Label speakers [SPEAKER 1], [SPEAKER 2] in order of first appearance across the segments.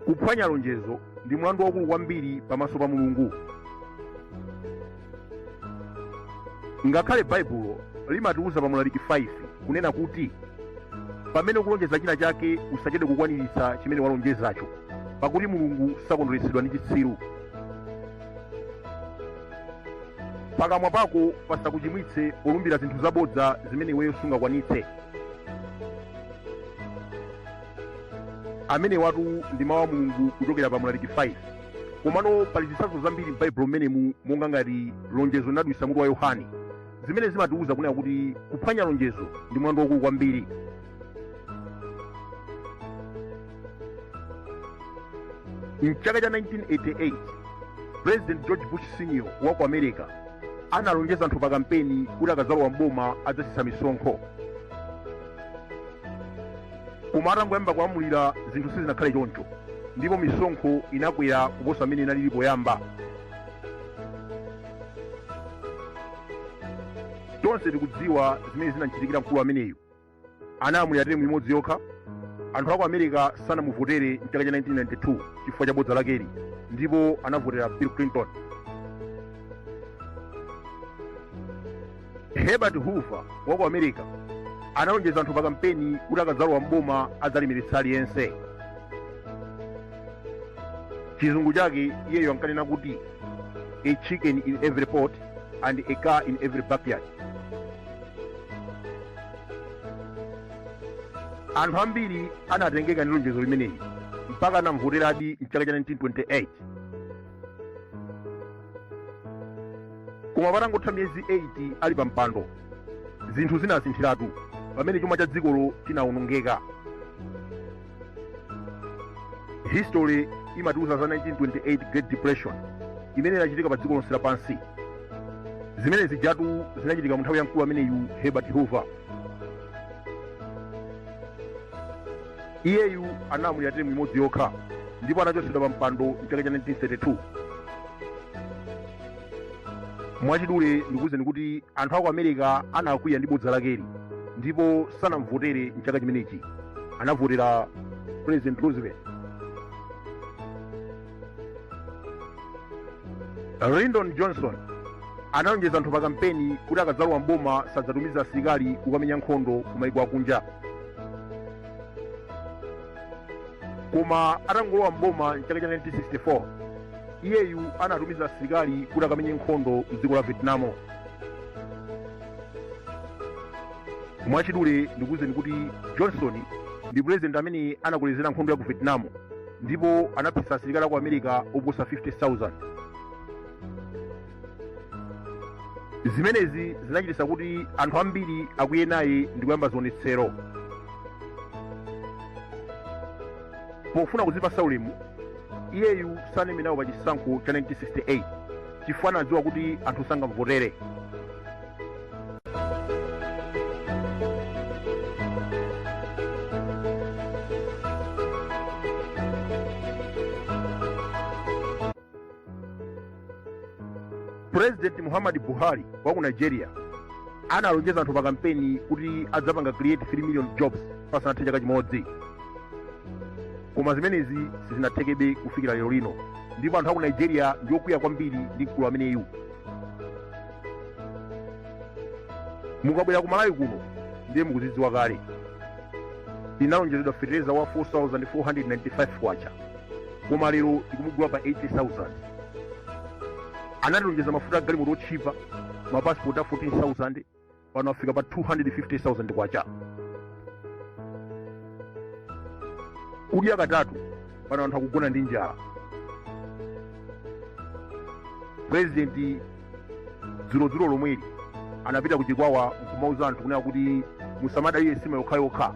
[SPEAKER 1] kuphwanya lonjezo ndi mlandu waukulu kwambiri pamaso pa mulungu ngakhale baibulo limatiwuza pa mlaliki 5 kunena kuti pamene ukulonjeza china chake usachedwe kukwaniritsa chimene walonjezacho pakuti mulungu sakondweretsedwa ndi chitsiru pakamwa pako pasakuchimwitse polumbira zinthu zabodza zimene iweyo sungakwanitse amenewatu ndi mawu a mulungu kuchokera pa mlaliki 5 komano pali zitsanzo zambiri m'baibulo mmenemu monga ngati lonjezo linadulitsa mutu wa yohane zimene zimatiwuza kunena kuti kuphwanya lonjezo ndi mlandu waukulu kwambiri mchaka cha 1988 president george bush senior wa ku america analonjeza anthu pa kampeni kuti akadzalowa mboma adzatsitsa misonkho koma atangoyamba kulamulira zinthu sizinakhale choncho ndipo misonkho inakwera kuposa mmene inalili poyamba tonse tikudziwa zimene zinamchitikira mkulu ameneyu analamulira teremu imodzi yokha anthu aku america sanamuvotere mchaka cha 92 chifukwa cha bodza lakeli ndipo anavotera bill clinton herbert hoover wa ku america analonjeza anthu pa kampeni kuti akadzalowa mboma adzalemeretsa aliyense chizungu chake iyeyo ankanena kuti a chicken in every pot and a car in every backyard anthu ambiri anatengeka ndi lonjezo limeneli mpaka anamvoteradi mchaka cha 1928 koma patangotha miyezi 8 ali pa mpando zinthu zinasinthiratu pamene chuma cha dzikolo chinawonongeka history imatiuza za 1928 great depression imene inachitika pa dziko lonse lapansi zimene zijatu zinachitika mu nthawi ya mkulu ameneyu herbert hoover iyeyu analamulira teremu imodzi yokha ndipo anachotsedwa pa mpando mchaka cha 1932 mwachidule ndikuwuzeni kuti anthu aku america anakwiya ndi bodza lakeli ndipo sanamvotere mchaka chimenechi anavotera president roosevelt lyndon johnson analonjeza anthu pa kampeni kuti akadzalowa mboma sadzatumiza asilikali kukamenya nkhondo ku maiko akunja koma atangolowa mboma mchaka cha 1964 iyeyu anatumiza asilikali kuti akamenye nkhondo mdziko la vietnam mwachidule ndikuwuzeni kuti johnson ndi president amene anakolezera nkhondo ya ku vietnam ndipo anaphetsa asilikali aku america oposa 50000 zimenezi zinachititsa kuti anthu ambiri akwiye naye ndi kuyamba zionetsero pofuna kudzipatsa ulemu iyeyu sanayime nawo pa chisankho cha 1968 chifukwa anadziwa kuti anthu sangamvotere purezidenti muhammad buhari wa ku nigeria analonjeza anthu pa kampeni kuti adzapanga create 3 million jobs pasanathe chaka chimodzi koma zimenezi sizinathekebe kufikira lero lino ndipo anthu aku nigeria ndi okwiya kwambiri ndi mkulu ameneyu mukabwera ku malawi kuno ndiye mukudziwa kale tinalonjezedwa fertilizer wa 4495 kwacha koma lero tikumugula pa 80000 anatilonjeza mafuta a galimoto otchipa mapasipoti a 14000 pano afika pa 250000 kwacha kudya katatu pano anthu akugona ndi njala purezidenti dzulodzulo lomweli anapita kuchikwawa nkumauza anthu kunena kuti musamadalire sima yokhayokha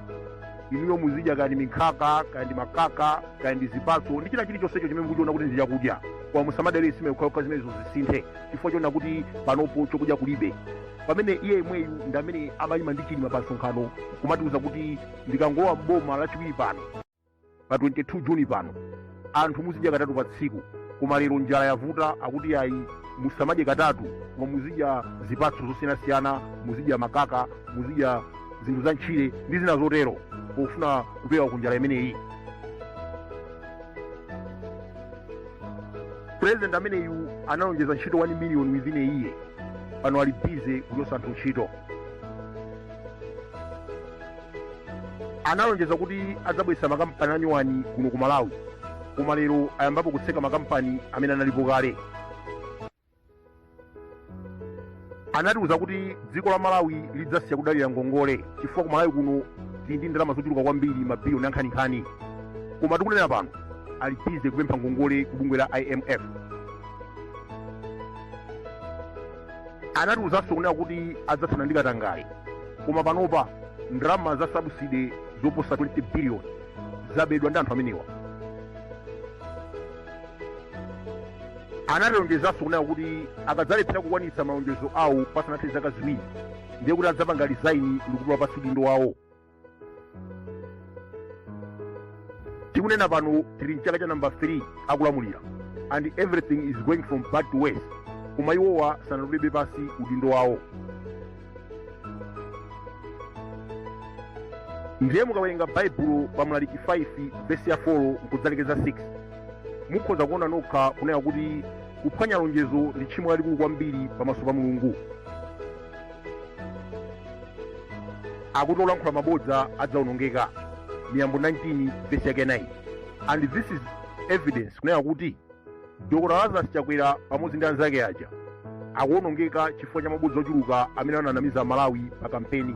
[SPEAKER 1] inuyo muzidya kaya ndi minkhaka kaya ndi makaka kaya ndi zipatso ndi china chilichonsecho chimene mukuchiona kuti ndi chakudya koma musamadalire sima yokhayokha zimenezo zisinthe chifukwa choona kuti panopo chokudya kulibe pamene iye yemweyu ndi amene amayima ndi chilima pa msonkhano kumatiuza kuti ndikangolowa mboma lachiwiri pano pa 22 juni pano anthu muzidya katatu pa tsiku koma lero njala yavuta akuti yayi musamadye katatu koma muzidya zipatso zosiyanasiyana muzidya makaka muzidya zinthu za ntchire ndi zina zotero pofuna kupewa kunjala imeneyi president ameneyu analonjeza ntchito 1 million within a year pano ali bize kuchotsa anthu ntchito analonjeza kuti adzabweretsa makampani anyuwani kuno ku malawi koma lero ayambapo kutseka makampani amene analipo kale anatiuza kuti dziko la malawi lidzasiya kudalira ngongole chifukwa ku malawi kuno tili ndi ndalama zochuluka kwambiri mabiliyoni ankhaninkhani koma tikunena pano ali bize kupempha ngongole ku bungwe la imf anatiuzanso kunena kuti adzathana ndi katangale koma panopa ndalama za sabuside zoposa 20 biliyoni zabedwa ndi anthu amenewa anatilonjezanso kunena kuti akadzalephera kukwanitsa malonjezo awo pasanathe zaka ziwiri ndiye kuti adzapanga rizaini ndikutula pansi udindo wawo tikunena pano tili mchaka cha namba 3 akulamulira and everything is going from bad to worse koma iwowa sanatulebe pansi udindo wawo ndiye mukawerenga baibulo pa mlaliki 5 vesi ya 4 nkudzalekeza 6 mukhoza kuona nokha kunena kuti kuphwanya lonjezo ndi tchimo lalikulu kwambiri pamaso pa mulungu akuti olankhula mabodza adzaonongeka miyambo 19 vesi yake 9 and this is evidence kunena kuti dr lazarus chakwera pamodzi ndi anzake aja akuonongeka chifukwa cha mabodza ochuluka amene ananamiza amalawi pa kampeni